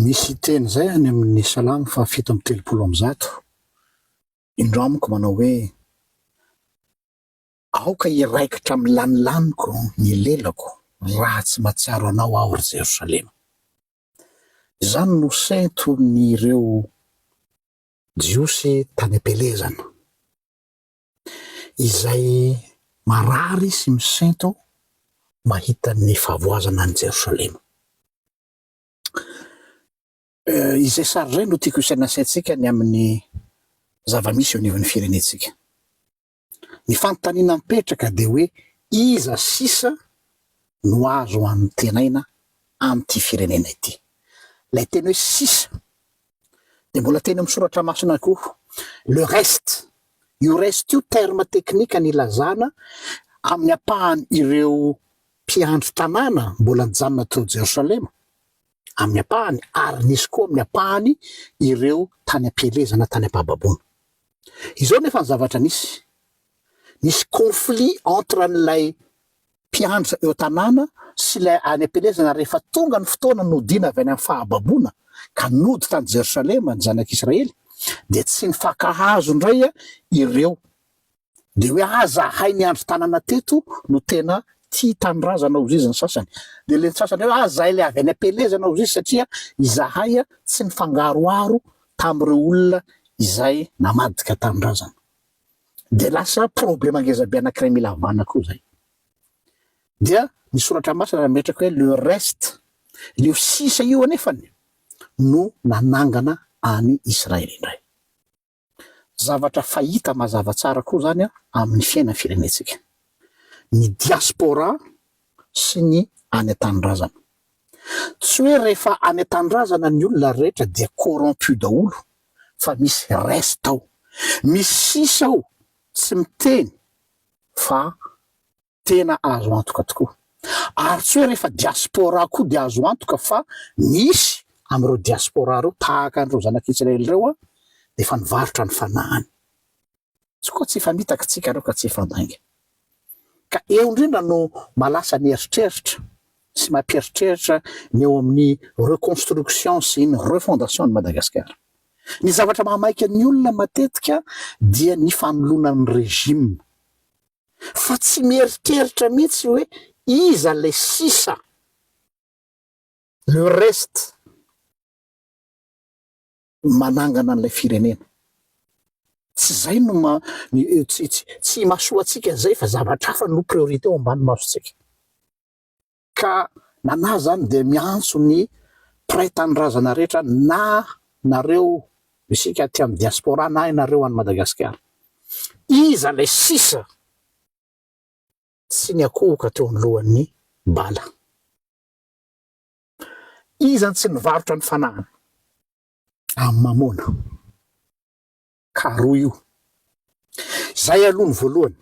Misy teny izay any amin' ny Salamo fahafito amby telopolo amby zato, Indro amiko manao hoe, Aoka hiraikitra amin'ny lanilaniko ny lelako raha tsy mahatsiaro anao aho, ry Jerosalema. Izany no senton' ireo Jiosy tany am-pielezana. izay marary sy misento mahita ny fahavoazana an'i Jerosalema. Izay sary izay no tiako isaina saintsika ny amin'ny zava-misy eo anivon'ny firenentsika. Ny fanontaniana mipetraka dia hoe iza sisa no azo anontenaina amin'ity firenena ity. Ilay teny hoe sisa dia mbola teny amin'ny soratra masina koa le reste io reste io terme teknika ny ilazana amin'ny ampahany ireo mpiandry tanàna mbola nijanona tao jerosalema amin'ny ampahany ary nisy koa amin'ny ampahany ireo tany am-pielezana tany am-pahababoana izao nefa ny zavatra nisy nisy conflit entre an'ilay mpiandry eo tanàna sy ilay any am-pielezana rehefa tonga ny fotoana nodiana avy any amin'ny fahababoana ka nody tany Jerosalema ny zanak'Israely dia tsy nifankahazo indray ireo dia hoe ah zahay niandry tanàna teto no tena tia tanindrazana hozy izy ny sasany dia ilay ny sasany hoe ah zahay ilay avy any am-pielezana hozy izy satria izahay tsy nifangaroharo tamin'ireo olona izay namadika tanindrazana dia lasa problema ngezabe anankiray mila havana koa zay. Dia ny soratra masina nametraka hoe le reste, leo sisa io anefany no nanangana any Israely indray. Zavatra fahita mazava tsara koa zany amin'ny fiainan'ny firenentsika. Ny diaspora sy ny any an-tanindrazana. Tsy hoe rehefa any an-tanindrazana ny olona rehetra dia corrompu daholo fa misy reste ao, misy sisa ao tsy miteny fa tena azo antoka tokoa. Ary tsy hoe rehefa diaspora koa dia azo antoka fa misy amin'ireo diaspora ireo tahaka an'ireo zanak'Israely ireo dia efa nivarotra ny fanahiny. tsy koa tsy efa mitaky tsika reo ka tsy efa mainga ka eo indrindra no malasa ny eritreritra sy mampieritreritra ny eo amin'ny reconstruction sy ny refondation ny Madagascar ny zavatra mahamaika ny olona matetika dia ny fanoloana ny regime fa tsy mieritreritra mihitsy hoe iza le sisa le reste manangana an'ilay firenena. Tsy zay no ma, tsy, tsy, tsy imasoantsika zay fa zavatra hafa no priorité ao ambany masontsika. Ka nanahy zany dia miantso ny mpiray tanindrazana rehetra na nareo isika aty amin'ny diaspora na ianareo any Madagasikara. Iza ilay sisa tsy niakohoka teo anoloan'ny bala? Iza no tsy nivarotra ny fanahiny amin'ny mamôna? Ka roa io. Izay aloha ny voalohany,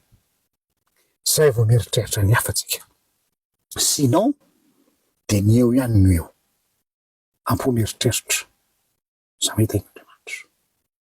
izay vao mieritreritra ny hafa tsika. Sinon dia ny eo ihany no eo. Ampio mieritreritra, samia tahin'Andriamanitra.